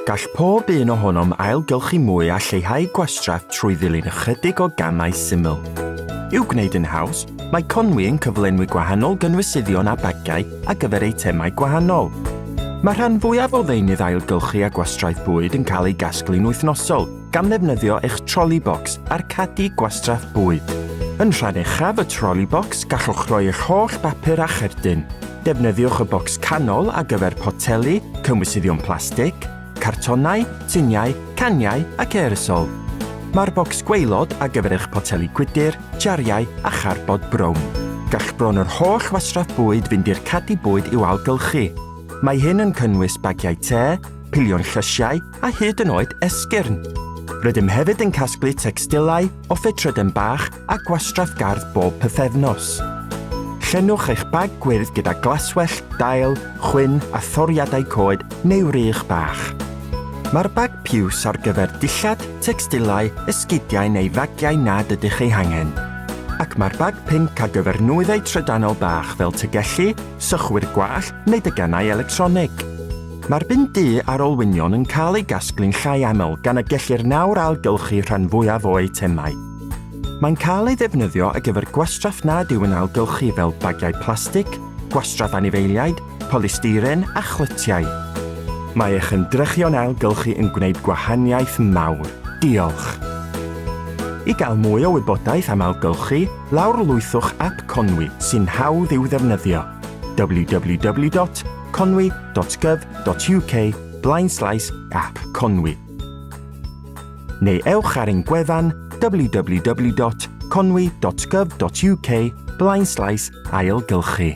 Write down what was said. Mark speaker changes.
Speaker 1: Gall pob un ohonom ailgylchu mwy a lleihau gwastraff trwy ddilyn ychydig o gamau syml. I'w gwneud yn haws, mae Conwy yn cyflenwi gwahanol gynwysyddion a bagau ar gyfer eitemau gwahanol. Mae rhan fwyaf o ddeunydd ailgylchu a gwastraff bwyd yn cael ei gasglu'n wythnosol, gan ddefnyddio eich troli bocs a'r cadi gwastraff bwyd. Yn rhan uchaf y troli bocs, gallwch roi eich holl bapur a cherdyn. Defnyddiwch y bocs canol ar gyfer poteli, cynwysyddion plastig, cartonau, tuniau, caniau ac aerosol. Mae'r bocs gweilod ar gyfer eich poteli gwydr, jariau a charbod brown. Gall bron yr holl wasraff bwyd fynd i'r cadi bwyd i'w algylchu. Mae hyn yn cynnwys bagiau te, pilion llysiau, a hyd yn oed esgyrn. Rydym hefyd yn casglu tecstilau o ffetrydden bach a gwastraff gardd bob pythefnos. Llenwch eich bag gwyrdd gyda glaswell, dail, chwyn a thoriadau coed neu rych bach. Mae'r bag piws ar gyfer dillad, tecstilau, esgidiau neu fagiau nad ydych eu hangen. Ac mae'r bag pinc ar gyfer nwyddau trydanol bach fel tygellu, sychwyr gwallt neu degannau electronig. Mae'r bin du a'r olwynion yn cael eu gasglu'n llai aml gan y gellir nawr ailgylchu rhan fwyaf o eitemau. Mae'n cael ei ddefnyddio ar gyfer gwastraff nad yw'n ailgylchu fel bagiau plastig, gwastraff anifeiliaid, polystyren a chlytiau. Mae eich ymdrechion ailgylchu yn gwneud gwahaniaeth mawr. Diolch! I gael mwy o wybodaeth am ailgylchu, Lawrlwythwch ap Conwy sy'n hawdd i'w ddefnyddio, www.conwy.gov.uk blaenslaes ap Conwy. Neu ewch ar ein gwefan www.conwy.gov.uk blaenslaes ailgylchu.